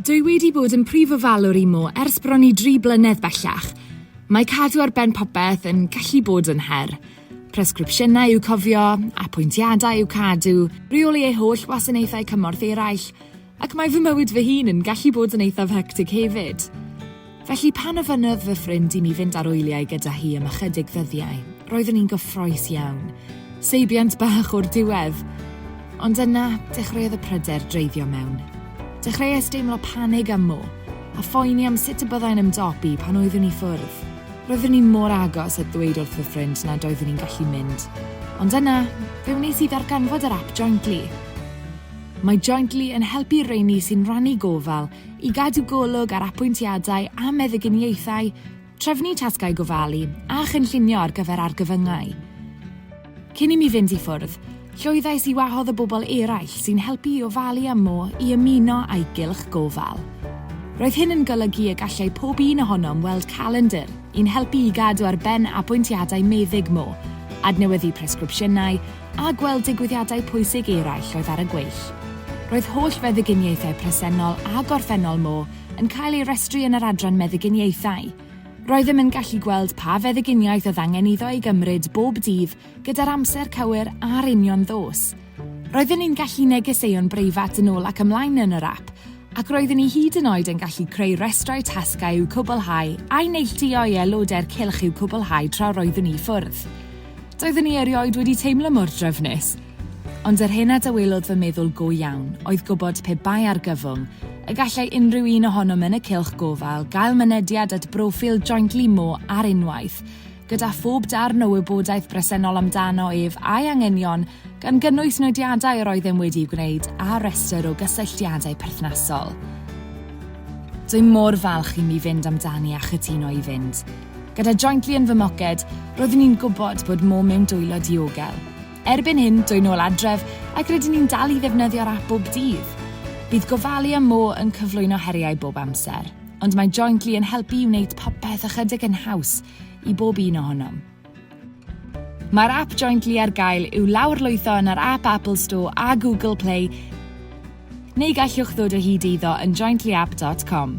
Dwi wedi bod yn prif ofalwr i Mo ers bron i dri blynedd bellach. Mae cadw ar ben popeth yn gallu bod yn her. Presgripsiynau i'w cofio, apwyntiadau i'w cadw, rheoli ei holl wasanaethau cymorth eraill, ac mae fy mywyd fy hun yn gallu bod yn eithaf hectig hefyd. Felly pan ofynnodd fy ffrind i mi fynd ar wyliau gyda hi am ychydig ddyddiau, roeddwn i'n gyffrous iawn. Seibiant bach o'r diwedd! Ond yna, dechreuodd y pryder dreiddio mewn. Dechreuais deimlo panig am Mo, a phoeni am sut y byddai'n ymdopi pan oeddwn i ffwrdd. Roeddwn i mor agos at ddweud wrth fy ffrind nad oeddwn i'n gallu mynd, ond yna, fe wnes i ddarganfod yr ap Jointly. Mae Jointly yn helpu rheiny sy'n rhannu gofal i gadw golwg ar apwyntiadau a meddyginiaethau, trefnu tasgau gofalu a chynllunio ar gyfer argyfyngau. Cyn i mi fynd i ffwrdd, llwyddais i wahodd y bobl eraill sy'n helpu i ofalu am Mo i ymuno â'i gylch gofal. Roedd hyn yn golygu y gallai pob un ohonom weld calendr i'n helpu i gadw ar ben apwyntiadau meddyg Mo, adnewyddu presgripsiynau, a gweld digwyddiadau pwysig eraill oedd ar y gweill. Roedd holl feddyginiaethau presennol a gorffennol Mo yn cael ei restru yn yr adran meddyginiaethau. Roeddem yn gallu gweld pa feddyginiaeth oedd angen iddo ei gymryd bob dydd gyda'r amser cywir a'r union ddos. Roedden ni'n gallu negeseuon breifat yn ôl ac ymlaen yn yr ap, ac roeddwn i hyd yn oed yn gallu creu rhestrau tasgau i'w cwblhau a'u neilltuo i aelodau'r cylch i'w cwblhau tra roeddwn i ffwrdd. Doeddwn i erioed wedi teimlo mor drefnus! Ond yr hyn a dawelodd fy meddwl go iawn oedd gwybod pe bai argyfwng, y gallai unrhyw un ohonom yn y cylch gofal gael mynediad at broffil Jointly Mo ar unwaith, gyda phob darn o wybodaeth bresennol amdano ef a'i anghenion gan gynnwys nodiadau yr oeddem wedi'u gwneud a rhestr o gysylltiadau perthnasol. Dwi mor falch i mi fynd amdani a chytuno i fynd. Gyda Jointly yn fy mhoced, roeddwn i'n gwybod bod mo mewn dwylo diogel. Erbyn hyn, dwy'n ôl adref ac rydyn ni'n dal i ddefnyddio'r ap bob dydd. Bydd gofalu am mo yn cyflwyno heriau bob amser, ond mae Jointly yn helpu i wneud popeth ychydig yn haws i bob un ohonom. Mae'r ap Jointly ar gael i'w lawrlwytho yn yr App Apple Store a Google Play, neu gallwch ddod o hyd iddo yn jointlyapp.com.